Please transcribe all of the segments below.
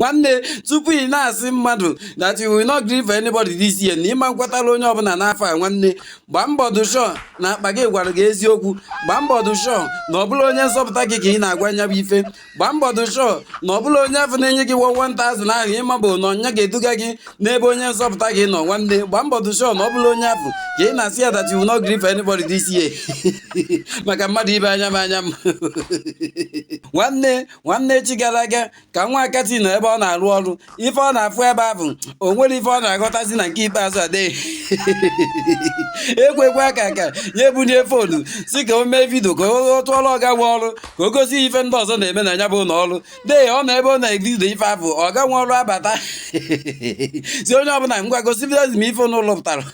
nwanne tupu ị na-asị mmadụ that you will not gree for anybody this year na ị ma-ekwetara onye ọbụla n'afọ a nwanne gbaa mbọ dị sure na akpa gị gwara gị eziokwu gbaa mbọ dị sure na ọ bụrọ onye nzọpụta gị ka ị na-agwa ya bụ ife gbaa mbọ dị sure na ọ bụrọ onye afụ na-enye gị 1000 ahụ ịma bụ na onye ga-eduga gị n'ebe onye nzọpụta gị nọ nwanne gbaa mbọ dị sure na ọ bụrọ onye afụ ka ị na-asị ya that you will not gree for anybody this year maka mmadụ ibe anya m anya m nwanne nwanne echi gara aga ka nwa akati nọ ebe ọ na-arụ ọrụ ife ọ na-afụ ebe ahụ o nwere ife ọ na-aghọtazi na nke ikpeazụ adịghị ekwekwe aka ka ya ebunie phone sị ka o mee vidio ka ọ tụọrọ ọga nwe ọrụ ka o gosi ife ndị ọzọ na-eme na ya bụ ụlọ ọrụ dee ọ nọ ebe ọ na-evidio ife ahụ ọga nwe ọrụ abata sị onye ọbụla ngwa gosi vidio m ife n'ụlọ pụtara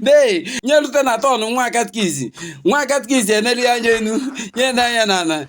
dee nye rute na turn nwa katkizi nwa katkizi enelie anya enu nene anya na ala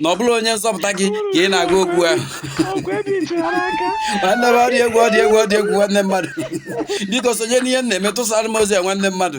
na ọ bụrọ onye nzọpụta gị ka ị na-agwa okwu ahụ nwanne m ọ dị egwu ọ dị egwu ọ dị egwu nwanne mmadụ biko sonye n'ihe m na-eme tụsara m ozi a nwanne mmadụ